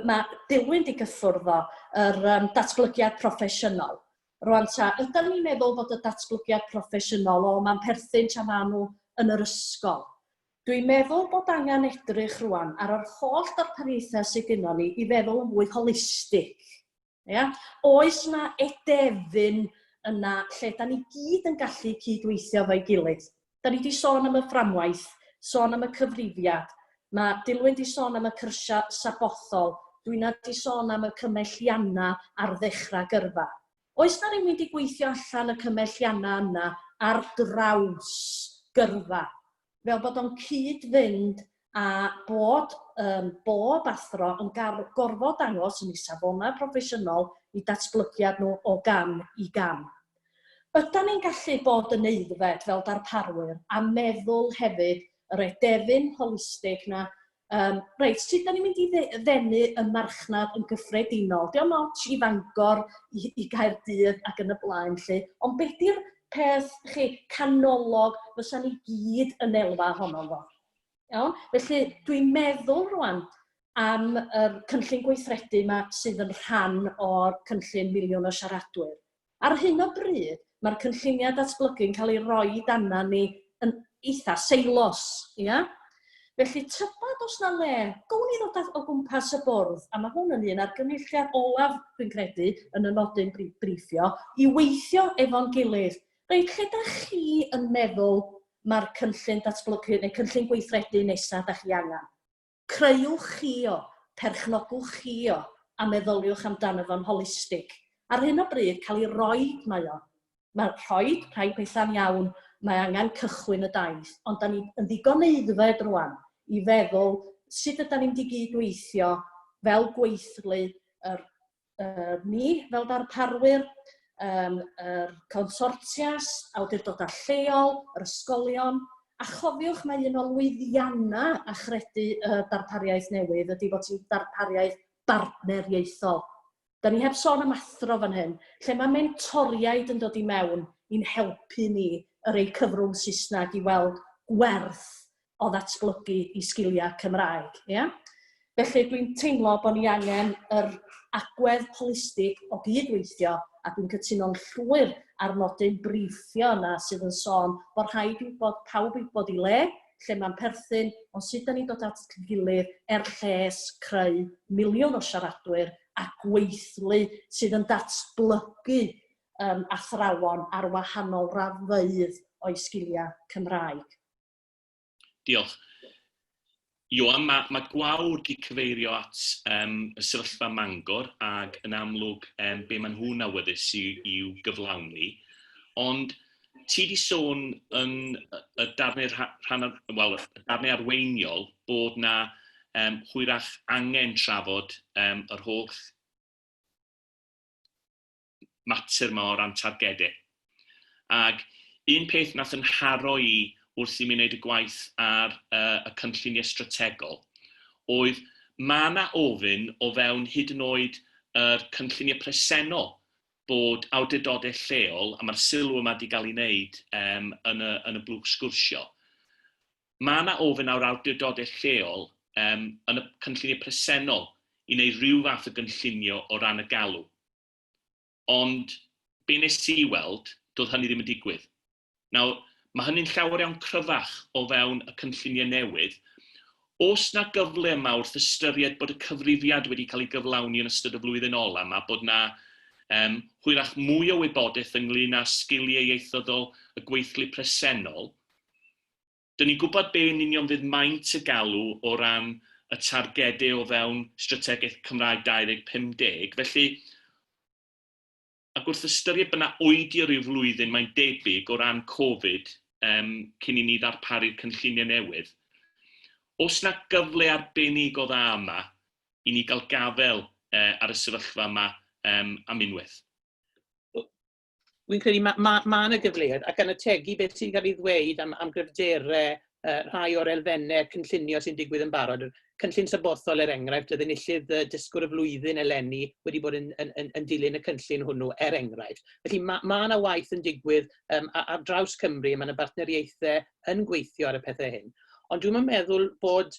mae dilyn di gyffwrdd o, yr um, datblygiad proffesiynol. Rwan ta, ydym ni'n meddwl bod y datblygiad proffesiynol o mae'n perthyn tra maen nhw yn yr ysgol. Dwi'n meddwl bod angen edrych rwan ar yr holl darpariaethau sydd gennym ni i feddwl yn fwy holistig. Ia? Oes 'na edefyn yna lle da ni gyd yn gallu cydweithio efo'i gilydd? Da ni wedi sôn am y fframwaith, sôn am y cyfrifiad, mae Dilwyn wedi sôn am y cyrsiau sabothol, Dwyna wedi sôn am y cymelliannau ar ddechrau gyrfa. Oes 'na rywun wedi gweithio allan y cymelliannau yna ar draws gyrfa? fel bod o'n cyd-fynd a bod um, bob athro yn gorfod dangos yn ei safonau proffesiynol i datblygiad nhw o gam i gam. Ydan ni'n gallu bod yn eiddfed fel darparwyr a meddwl hefyd yr edefyn holistig na Yym reit, sut dan ni'n mynd i dde- ddenu y marchnad yn gyffredinol? Dio'm ots i Fangor, i i Gaerdydd ac yn y blaen 'lly, ond be' 'di'r peth, chi, canolog fysa ni gyd yn elwa ohono fo? Iawn? Felly, dwi'n meddwl rŵan am yr cynllun gweithredu 'ma sydd yn rhan o'r cynllun Miliwn o Siaradwyr. Ar hyn o bryd, mae'r cynlluniau datblygu'n cael eu rhoi i dannan ni yn eitha' seilos, ia? Felly tybed os 'na le, gown ni ddod o gwmpas y bwrdd, a mae hwn yn un argymelliad olaf, dwi'n credu, yn y nodyn briffio, i weithio efo'n gilydd, reit, lle 'da chi yn meddwl mae'r cynllun datblygu neu cynllun gweithredu nesa' 'da chi angen? Creuwch chi o, perchnogwch chi o, a meddyliwch amdano fo'n holistig. Ar hyn o bryd, cael ei roid mae o. Mae rhoi rhai pethau'n iawn, mae angen cychwyn y daith, ond da ni yn ddigon aeddfed rwan i feddwl sut ydan ni'n mynd i gyd-weithio fel gweithlu yr yy ni fel darparwyr yym yr consortias, awdurdoda' lleol, yr ysgolion, a chofiwch mai un o lwyddianna' achredu y darpariaeth newydd ydi fod hi'n darpariaeth bartneriaethol. 'Dan ni heb sôn am athro fan hyn, lle ma' mentoriaid yn dod i mewn i'n helpu ni, y rei cyfrwng Saesneg, i weld gwerth o ddatblygu i sgiliau Cymraeg, ia? Felly dwi'n teimlo bod ni angen yr agwedd holistig o gyd-weithio a dwi'n cytuno'n llwyr ar nodyn briffio yna sydd yn sôn bod rhaid i bod pawb i bod i le, lle mae'n perthyn, ond sut da ni'n dod at y gilydd er lles creu miliwn o siaradwyr a gweithlu sydd yn datblygu um, athrawon ar wahanol raddfeydd o'i sgiliau Cymraeg. Diolch. Ioan, mae, mae gwawr di cyfeirio at um, y sefyllfa mangor ac yn amlwg um, be maen nhw'n awyddus i'w, i'w gyflawni. Ond ti di sôn yn y darnau, rhan, well, y darnau arweiniol bod na um, hwyrach angen trafod um, yr holl mater 'ma o ran targede. Ag un peth nath 'yn nharo i wrth i mi neud y gwaith ar yy y cynllunie strategol oedd ma' 'na ofyn o fewn hyd yn oed yr cynllunie presennol bod awdurdode lleol, a ma'r sylw yma 'di ga'l 'i neud yym yn y yn y blwch sgwrsio, Mae yna ofyn ar awdurdodau lleol yym yn y cynlluniau presennol i wneud rhyw fath o gynllunio o ran y galw. Ond be wnes i weld, doedd hynny ddim yn digwydd. Nawr, mae hynny'n llawer iawn cryfach o fewn y cynlluniau newydd. Oes 'na gyfle yma wrth ystyried bod y cyfrifiad wedi cael ei gyflawni yn ystod y flwyddyn ola' 'ma, bod 'na yym hwyrach mwy o wybodaeth ynglŷn â sgiliau ieithyddol y gweithlu presennol, 'dyn ni'n gwybod be yn union fydd maint y galw o ran y targedau o fewn Strategaeth Cymraeg 2050, felly, ac wrth ystyried bod 'na oedi o ryw flwyddyn, mae'n debyg, o ran Covid yym cyn i ni ddarparu'r cynlluniau newydd, oes 'na gyfle arbennig o dda yma i ni gael gafael yy ar y sefyllfa yma yym am unwaith? fi'n credu mae ma, ma yna gyfleoedd, ac gan ategu beth sy'n cael ei ddweud am, am gryfderau uh, rhai o'r elfennau cynllunio sy'n digwydd yn barod. Cynllun sabothol er enghraifft, oedd enillydd uh, dysgwr y flwyddyn eleni wedi bod yn, yn, yn, yn dilyn y cynllun hwnnw er enghraifft. Felly mae ma yna waith yn digwydd um, ar draws Cymru, mae yna bartneriaethau yn gweithio ar y pethau hyn. Ond dwi'n meddwl bod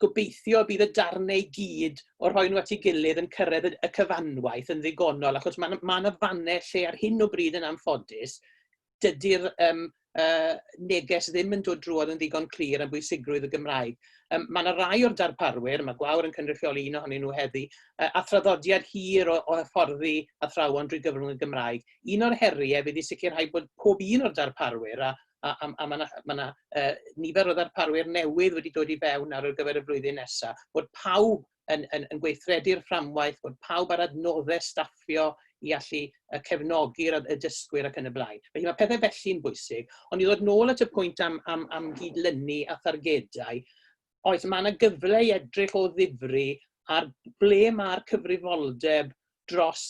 gobeithio bydd y darnau i gyd o rhoi nhw at ei gilydd yn cyrraedd y cyfanwaith yn ddigonol, achos mae ma yna fannau lle ar hyn o bryd yn anffodus, dydy'r um, uh, neges ddim yn dod drwodd yn ddigon clir am bwysigrwydd y Gymraeg. Um, mae yna rai o'r darparwyr, mae Gwawr yn cynrychioli un ohonyn nhw heddi, uh, a thraddodiad hir o, o hyfforddi athrawon drwy gyfrwng y Gymraeg. Un o'r heriau fydd i sicrhau bod pob un o'r darparwyr a, a, a, a mae yna ma na, uh, nifer o ddarparwyr newydd wedi dod i fewn ar gyfer y flwyddyn nesaf, bod pawb yn, yn, yn gweithredu'r fframwaith, bod pawb ar adnoddau staffio i allu cefnogi'r y dysgwyr ac yn y blaen. Felly mae pethau felly'n bwysig, ond i ddod nôl at y pwynt am, am, am gydlynu a thargedau, oes mae yna gyfle i edrych o ddifri ar ble mae'r cyfrifoldeb dros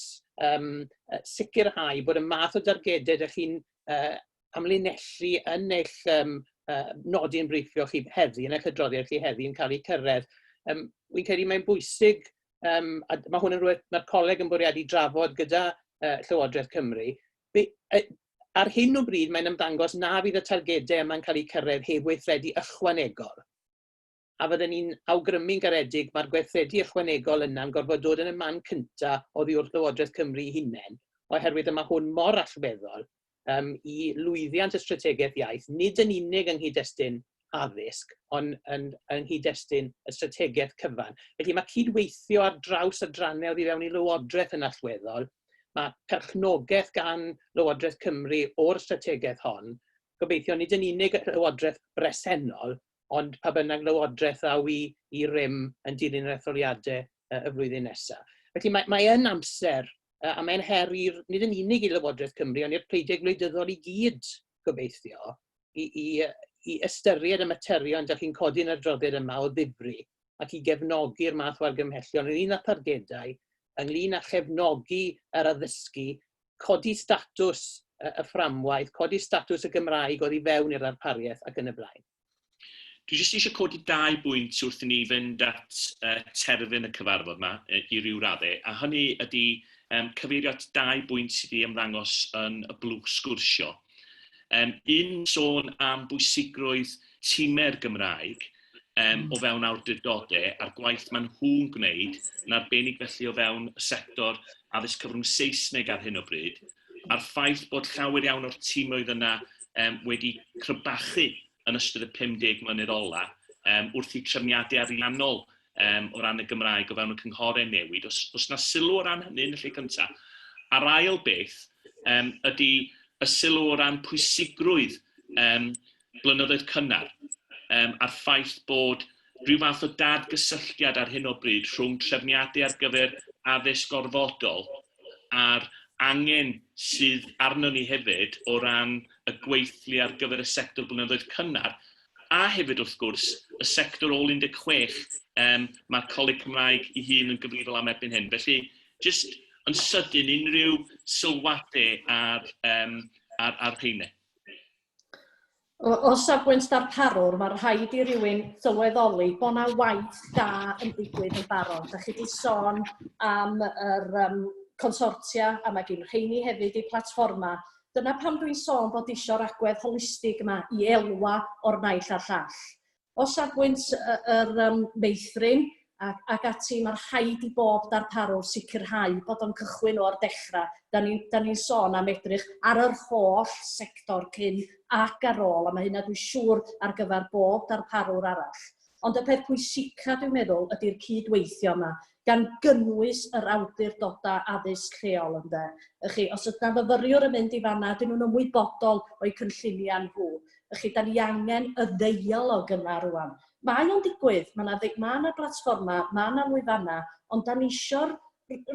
um, sicrhau bod y math o dargedau ydych chi'n uh, amlinellu yn eich um, uh, nodi yn briffio chi heddi, yn eich adroddiad chi heddi yn cael eu cyrraedd. Um, Wy'n credu mae'n bwysig, um, a mae hwn yn rhywbeth mae'r coleg yn bwriadu drafod gyda uh, Llywodraeth Cymru, be, uh, ar hyn o bryd mae'n ymddangos na fydd y targedau yma'n cael eu cyrraedd heb weithredu ychwanegol. a fydden ni'n awgrymu'n garedig mae'r gweithredu ychwanegol yna'n gorfod dod yn y man cynta oddi wrth Lywodraeth Cymru ei hunain, oherwydd y mae hwn mor allweddol um, i lwyddiant y strategaeth iaith, nid yn unig yng nghyd-destun addysg, ond yn, yng nghyd-destun y strategaeth cyfan. Felly mae cydweithio ar draws y drannau oddi fewn i Lywodraeth yn allweddol, Mae perchnogaeth gan Lywodraeth Cymru o'r strategaeth hon, gobeithio nid yn unig y Llywodraeth bresennol, ond pa bynnag lywodraeth ddaw i i rym yn dilyn yr etholiadau y flwyddyn nesaf. Felly mae mae yn amser, a mae'n her i'r, nid yn unig i Lywodraeth Cymru, ond i'r pleidiau gwleidyddol i gyd, gobeithio, i i i ystyried y materion dych chi'n codi yn yr adroddiad yma o ddifri ac i gefnogi'r math o argymhellion ynglŷn â thargedau, ynglŷn â chefnogi yr addysgu codi statws y y fframwaith, codi statws y Gymraeg oddi fewn i'r ddarpariaeth ac yn y blaen. Dwi jyst eisiau codi dau bwynt wrth i ni fynd at uh, terfyn y cyfarfod yma i ryw radde, a hynny ydy um, cyfeirio at dau bwynt sydd wedi ymddangos yn y blwch sgwrsio. Um, un sôn am bwysigrwydd tîmau'r Gymraeg, um, o fewn awdurdodau a'r gwaith maen nhw'n gwneud yn arbennig felly o fewn y sector addysg cyfrwng Saesneg ar hyn o bryd, a'r ffaith bod llawer iawn o'r tîmoedd yna um, wedi crybachu yn ystod y 50 mlynedd ola um, wrth i trefniadau ariannol um, o ran y Gymraeg o fewn y cynghorau newid. Os, os na sylw o ran hynny yn y lle cyntaf, a'r ail beth um, ydy y sylw o ran pwysigrwydd um, blynyddoedd cynnar, yym, a'r ffaith bod rhyw fath o dad-gysylltiad ar hyn o bryd rhwng trefniadau ar gyfer addysg gorfodol a'r angen sydd arnon ni hefyd o ran y gweithlu ar gyfer y sector blynyddoedd cynnar, a hefyd, wrth gwrs, y sector ôl 16, yym, mae'r Coleg Cymraeg ei hun yn gyfrifol am erbyn hyn. Felly, jyst yn sydyn, unrhyw sylwadau ar, yym, ar, ar rheine? O o safbwynt darparwr, ma' rhaid i rywun sylweddoli bod 'na waith da yn digwydd yn barod. Dach chi 'di sôn am yr yym consortia, a ma' gin rheini hefyd eu platfformau. Dyna pam dwi'n sôn bod isio 'r agwedd holistig 'ma i elwa o'r naill a'r llall. O safbwynt yr meithrin ac ati, mae rhaid i bob darparwr sicrhau bod o'n cychwyn o'r dechrau. Dan ni, dan ni'n sôn am edrych ar yr holl sector cyn ac ar ôl, a mae hynna dwi'n siŵr ar gyfer bob darparwr arall. Ond y peth pwysica dwi'n meddwl ydy'r cyd-weithio yma, gan gynnwys yr awdurdodau addysg lleol, ynde. Y'ch chi, os oes 'na fyfyriwr yn mynd i fan'na, ydyn nhw'n ymwybodol o'u cynlluniau nhw. Y'ch chi, da ni angen y ddeialog yna rwan. Mae o'n digwydd, mae yna mae yna blatfformau, mae yna lwyfannau, ond da ni eisiau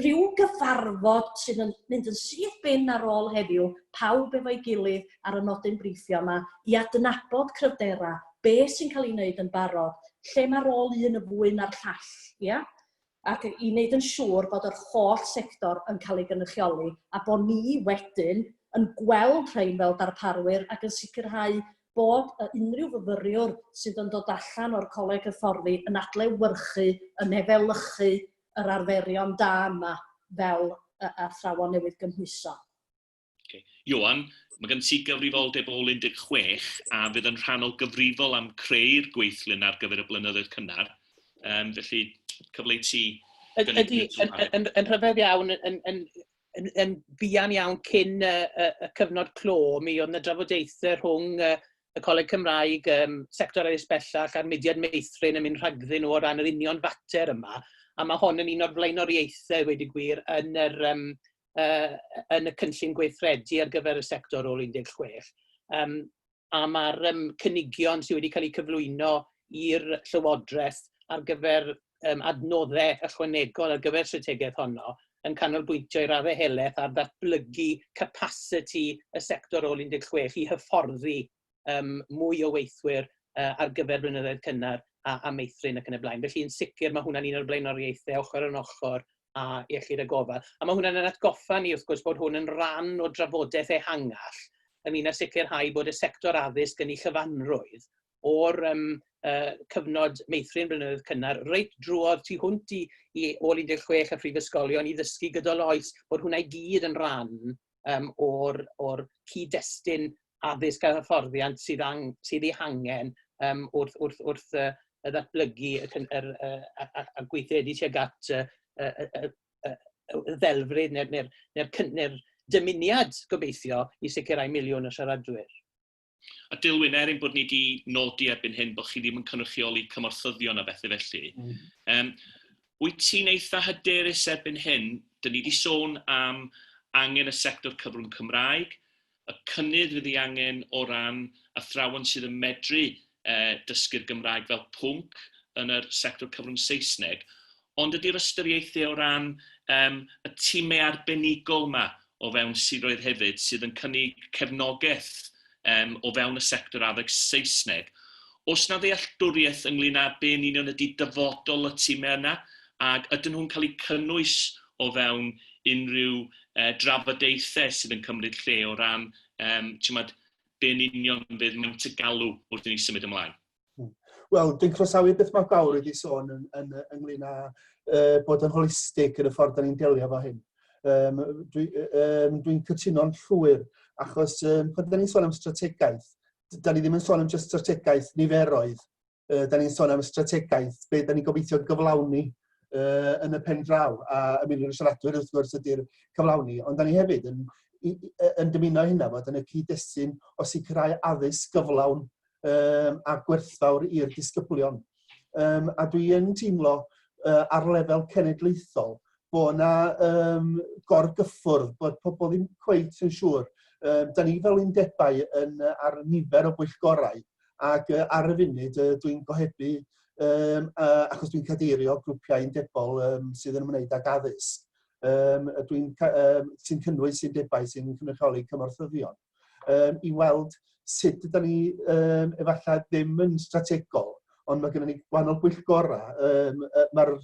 rhyw gyfarfod sydd yn mynd yn syth bin ar ôl heddiw, pawb efo'i gilydd ar y nodyn briffio yma, i adnabod cryfderau, be sy'n cael ei wneud yn barod, lle mae rôl un yn fwy na'r llall, ia? Ac i wneud yn siŵr bod yr holl sector yn cael ei gynrychioli a bod ni wedyn yn gweld rhain fel darparwyr ac yn sicrhau bod y unrhyw fyfyriwr sydd yn dod allan o'r coleg hyfforddi yn adlewyrchu, yn efelychu yr arferion da yma fel athrawon newydd gymhwyso. Okay. Johan, mae gen ti gyfrifoldeb ôl 16 a fydd yn rhannol gyfrifol am creu'r gweithlun ar gyfer y blynyddoedd cynnar. Um, felly, cyfle i ti... Ydy, yn, yn, rhyfedd iawn, yn, yn, yn, yn fuan iawn cyn y, y, y cyfnod clo, mi oedd yna drafodaethau rhwng y, y Coleg Cymraeg, um, sector addysg bellach a'r mudiad meithrin yn mynd rhagddyn nhw o ran yr union fater yma, a mae hon yn un o'r flaenoriaethau wedi gwir yn yr, um, yn y cynllun gweithredu ar gyfer y sector ôl 16, um, a mae'r um, cynigion sydd wedi cael eu cyflwyno i'r Llywodraeth ar gyfer um, adnoddau ychwanegol ar gyfer strategaeth honno yn canolbwyntio i'r arahelaeth ar ddatblygu capacity y sector ôl 16 i hyfforddi um, mwy o weithwyr uh, ar gyfer blynyddoedd cynnar a, a meithrin ac yn y blaen. Felly yn sicr mae hwnna'n un o'r blaenoriaethau ochr yn ochr a iechyd a gofal. A mae hwnna'n yn atgoffa ni wrth gwrs bod hwn yn rhan o drafodaeth ehangach ynglyn â sicrhau bod y sector addysg yn ei chyfanrwydd o'r um, uh, cyfnod meithrin blynyddoedd cynnar, reit drwodd tu hwnt i, i ôl 16 a phrifysgolion i ddysgu gydol oes, bod hwnna i gyd yn rhan um, o'r, or cyd-destun addysg a hyfforddiant sydd, ang, sydd ei hangen um, wrth, wrth, wrth uh, y ddatblygu y, yr, uh, a, a, a gweithredu tuag at uh, y, y, y, y ddelfryd neu'r neu, neu, neu, neu, neu dymuniad gobeithio i sicrhau miliwn o siaradwyr. A Dilwyn, er ein bod ni wedi nodi erbyn hyn bod chi ddim yn cynrychioli cymorthyddion a bethau felly, mm. um, wyt ti'n eitha hyderus erbyn hyn, dyn ni wedi sôn am angen y sector cyfrwng Cymraeg, y cynnydd fydd ei angen o ran athrawon sydd yn medru eh, dysgu'r Gymraeg fel pwnc yn yr sector cyfrwng Saesneg, Ond ydy'r ystyriaethau o ran yym y timau arbenigol 'ma o fewn siroedd hefyd sydd yn cynnig cefnogaeth yym o fewn y sector addysg Saesneg, oes 'na ddealltwriaeth ynglŷn â be yn union ydy dyfodol y timau yna, ac ydyn nhw'n cael eu cynnwys o fewn unrhyw yy drafodaethau sydd yn cymryd lle o ran yym t'mod be yn union fydd maint y galw wrth i ni symud ymlaen? Hmm. Wel, dwi'n croesawu beth mae Bawr wedi sôn yn, yn, ynglyn â uh, bod yn holistig yn y ffordd da ni'n delio fo hyn. Um, Dwi'n dwi, um, dwi cytuno'n llwyr, achos um, pan da ni'n sôn am strategaeth, da ni ddim yn sôn am just strategaeth niferoedd, uh, da ni'n sôn am strategaeth, be da ni'n gobeithio gyflawni uh, yn y pen draw, a y miliwn y siaradwyr wrth gwrs ydy'r cyflawni, ond da ni hefyd yn, yn dymuno hynna fod yn y cyd-destun o sicrhau addysg gyflawn um, a gwerthfawr i'r disgyblion. Um, a dwi yn teimlo uh, ar lefel cenedlaethol bod yna um, gorgyffwrdd, bod pobl ddim cweit yn siŵr. Um, da ni fel undebau yn, uh, ar nifer o bwyllgorau ac uh, ar y funud uh, dwi'n gohebu um, uh, achos dwi'n cadeirio grwpiau undebol um, sydd yn ymwneud ag addysg um, dwi'n um, sy'n cynnwys undebau sy'n cynrychioli cymorthyddion. um, i weld sut ydyn ni um, efallai ddim yn strategol, ond mae gennym ni gwahanol bwyllgorau. Um, Mae'r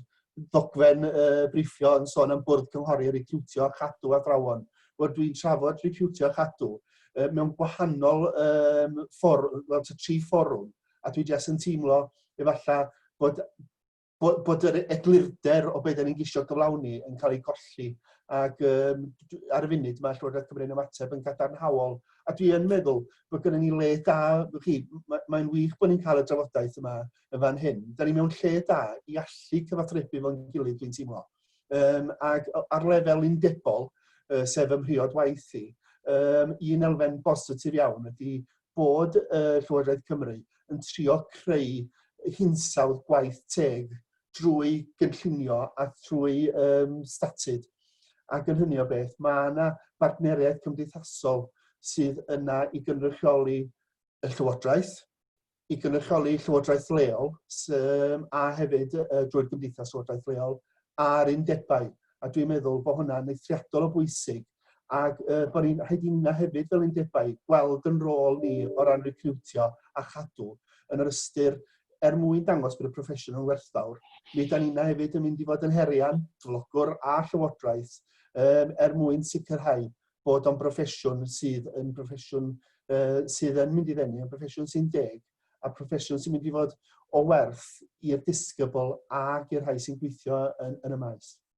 ddogfen uh, briffio yn sôn am bwrdd cynghori recriwtio a chadw athrawon. Wel, dwi'n trafod recriwtio a chadw uh, mewn gwahanol um, fforwm, well, tri fforwm, a dwi jes yn teimlo efallai bod bod, bod yr eglurder o beth da ni'n gisio gyflawni yn cael ei golli. Ac um, ar y funud mae Llywodraeth Cymru'n ymateb yn gadarnhaol. A dwi yn meddwl bod gennym ni le da, chi, mae'n mae wych bod ni'n cael y drafodaeth yma yn fan hyn. Da ni mewn lle da i allu cyfathrebu fo'n gilydd, dwi'n teimlo. Um, ac ar lefel undebol, uh, sef ymhriod waith i, um, un elfen bositif iawn ydy bod y Llywodraeth Cymru yn trio creu hinsawdd gwaith teg drwy gynllunio a thrwy um, statud. Ac yn hynny o beth, mae yna bartneriaeth cymdeithasol sydd yna i gynrychioli y Llywodraeth, i gynrychioli Llywodraeth leol um, a hefyd uh, drwy'r Gymdeithas Llywodraeth leol a'r undebau. A dwi'n meddwl bod hwnna'n eithriadol o bwysig Ac yy bod ni'n rhaid i na hefyd fel undebau gweld yn rôl ni o ran recriwtio a chadw yn yr ystyr er mwyn dangos bod y proffesiwn yn werthfawr. Mi da ni'n hefyd yn mynd i fod yn herian, cyflogwr a llywodraeth um, er mwyn sicrhau bod o'n broffesiwn sydd yn broffesiwn uh, sydd yn mynd i ddenu, yn broffesiwn sy'n deg, a proffesiwn sy'n mynd i fod o werth i'r disgybl ac i'r rhai sy'n gweithio yn, yn y maes.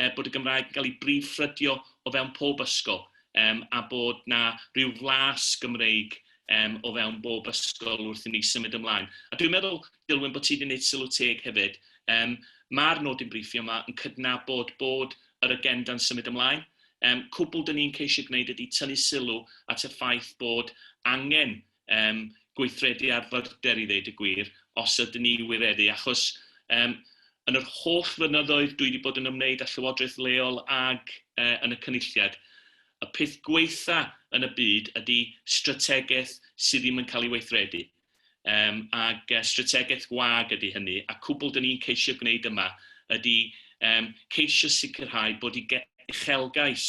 yy bod y Gymraeg yn cael ei brif ffrydio o fewn pob ysgol, yym a bod 'na ryw flas Gymreig yym o fewn bob ysgol wrth i ni symud ymlaen. A dwi'n meddwl, Dilwyn, bod ti wedi gwneud sylw teg hefyd, yym ma'r nodyn briffio 'ma yn cydnabod bod yr agenda'n symud ymlaen, yym cwbl 'dyn ni'n ceisio gwneud ydi tynnu sylw at y ffaith bod angen yym, gweithredu ar fyrder i ddeud y gwir, os ydyn ni i wireddu, achos yym, yn yr holl flynyddoedd dwi wedi bod yn ymwneud â llywodraeth leol ag e, yn y Cynulliad, y peth gwaetha' yn y byd ydy strategaeth sydd ddim yn cael ei weithredu, yym, ac e, strategaeth wag ydy hynny, a cwbl dyn ni'n ceisio gwneud yma ydy yym, ceisio sicrhau bod i ge- uchelgais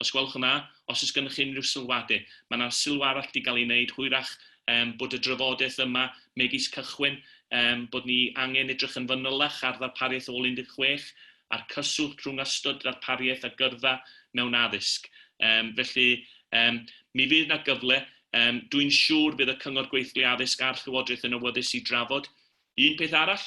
Os gwelwch yn dda, os oes gennych chi unrhyw sylwadau. Mae yna sylw arall 'di gael ei wneud hwyrach yym bod y drafodaeth yma megis cychwyn yym bod ni angen edrych yn fanylach ar ddarpariaeth ôl 16 a'r cyswllt rhwng ystod darpariaeth a gyrfa mewn addysg. Yym felly yym mi fydd yna gyfle, yym dwi'n siŵr bydd y Cyngor Gweithlu Addysg a'r Llywodraeth yn awyddus i drafod. Un peth arall,